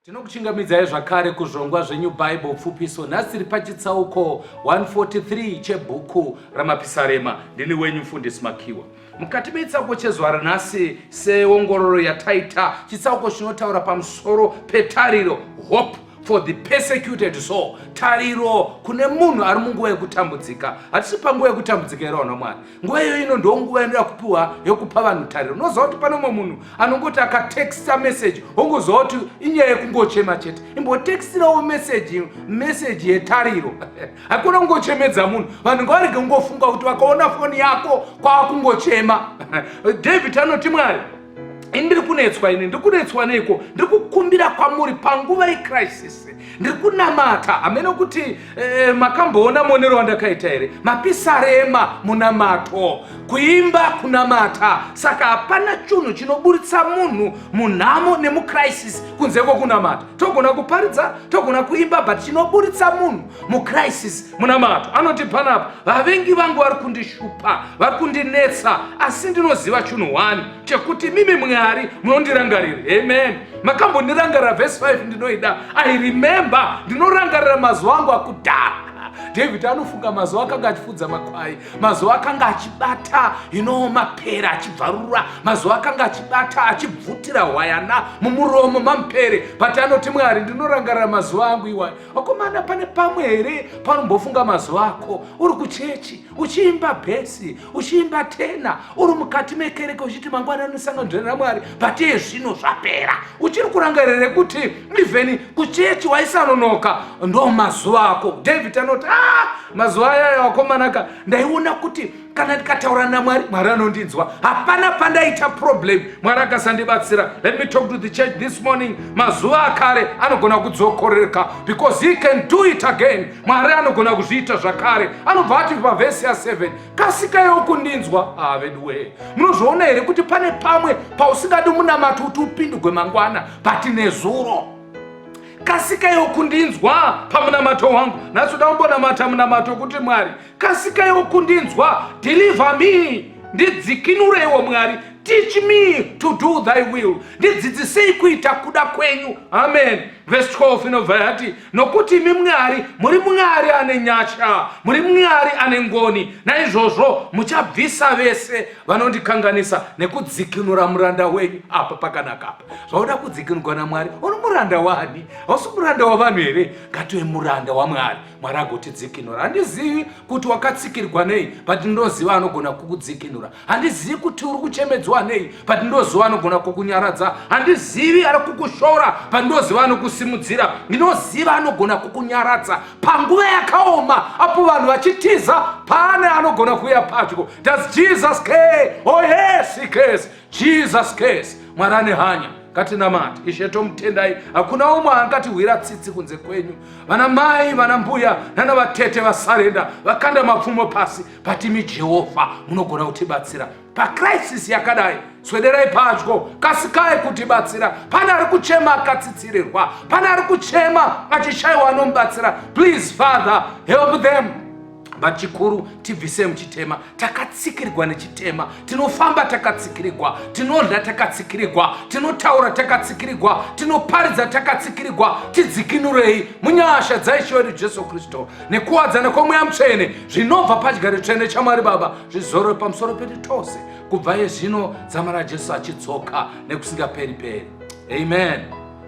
Tinokuchingamidzai zvakare kuzvongwa zveNew Bible Pfupiso. Nhasi tiri pachitsauko 143 chebhuku raMapisarema. Ndini wenyu mfundisi Makiwa. Mukati mechitsauko chezuva ranhasi, seongororo yataita, chitsauko chinotaura pamusoro petariro, hope for the persecuted soul, tariro kune munhu ari munguva yekutambudzika. Hatisi panguva yekutambudzika here, vana Mwari? nguva iyoyo ino ndo nguva yanoda kupiwa yokupa vanhu tariro unoziva kuti pane umwe munhu anongoti akatexta meseji ongoziva kuti inyaya yekungochema chete imbotextirawo meseji meseji yetariro hakuna kungochemedza munhu vanhu ngavarege kungofunga kuti vakaona foni yako kwava kungochema david anoti mwari ini ndiri kunetswa ini ndiri kunetswa neiko ndiri kukumbira kwamuri panguva yecrisis ndiri kunamata hameno kuti eh, makamboona muonero wandakaita here mapisarema munamato kuimba kunamata saka hapana chunhu chinoburitsa munhu munhamo nemucrisis kunze kwokunamata togona kuparidza togona kuimba but chinoburitsa munhu mucrisis munamato anoti panapa vavengi vangu vari kundishupa vari kundinetsa asi ndinoziva chinhu one chekuti mimi mwari munondirangarira amen makambondirangarira vhesi 5 ndinoida i remember ndinorangarira mazuva angu akudhara david anofunga mazuva akanga achifudza makwai mazuva akanga achibata ino mapere achibvarura mazuva akanga achibata achibvutira hwayana mumuromo mamupere but anoti mwari ndinorangarira mazuva angu iwayo vakomana pane pamwe here panombofunga mazuva ako uri kuchechi uchiimba bhesi uchiimba tena uri mukati mekereke uchiti mangwana anosanganzvera ramwari but iye zvino zvapera uchiri kurangarire kuti even kuchechi waisanonoka ndo mazuva ako david anoti a ah, mazuva ayayo vakomanaka ndaiona kuti kana ndikataura namwari mwari anondinzwa hapana pandaita problem mwari akasandibatsira let me talk to the church this morning mazuva akare anogona kudzokorerka because he can do it again mwari anogona kuzviita zvakare anobva ati pavhesi ya7 kasikayo kundinzwa haa veduwee munozviona here kuti pane pamwe pausingadi munamati kuti upindugwe mangwana but nezuro kasika yokundinzwa pamunamato wangu nasi uda kumbonamata munamato kuti mwari kasikaiwo kundinzwa deliver me ndidzikinureiwo mwari teach me to do thy will ndidzidzisei kuita kuda kwenyu amen vhesi 12 inobva yati nokuti imi mwari muri mwari ane nyasha muri mwari ane ngoni naizvozvo muchabvisa vese vanondikanganisa nekudzikinura muranda wenyu apa pakanaka apa zvauda kudzikinurwa namwari uri muranda wani hausi muranda wavanhu here ngatiwe muranda wamwari mwari agotidzikinura handizivi kuti wakatsikirwa nei but ndoziva anogona kukudzikinura handizivi kuti uri kuchemedzwa nei but ndoziva anogona kukunyaradza handizivi ari kukushora but ndoziva anokusimudzira ndinoziva anogona kukunyaradza panguva yakaoma apo vanhu vachitiza pane anogona kuuya padyo does jesus care oh yes he cares Jesus case mwari ane hanya ngatinamati ishe tomutendai hakuna umwe angatihwira tsitsi kunze kwenyu vana mai vana mbuya nana vatete vasarenda vakanda mapfumo pasi patimi jehovha munogona kutibatsira pacrisis yakadai swederai padyo kasikai kutibatsira pane ari kuchema akatsitsirirwa pane ari kuchema achishaiwa anomubatsira please father help them but chikuru tibvise muchitema takatsikirigwa nechitema tinofamba takatsikirigwa tinodya takatsikirigwa tinotaura takatsikirigwa tinoparidza takatsikirigwa tidzikinurei munyasha dzaishe wedu jesu kristu nekuwadzana kwemweya mutsvene zvinobva padyari tsvene chamwari baba zvizorwe pamusoro pedu tose kubva yezvino dzama rajesu achidzoka nekusingaperi peri amen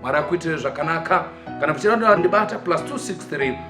mwari akuitire zvakanaka kana muchida ndibata plus 263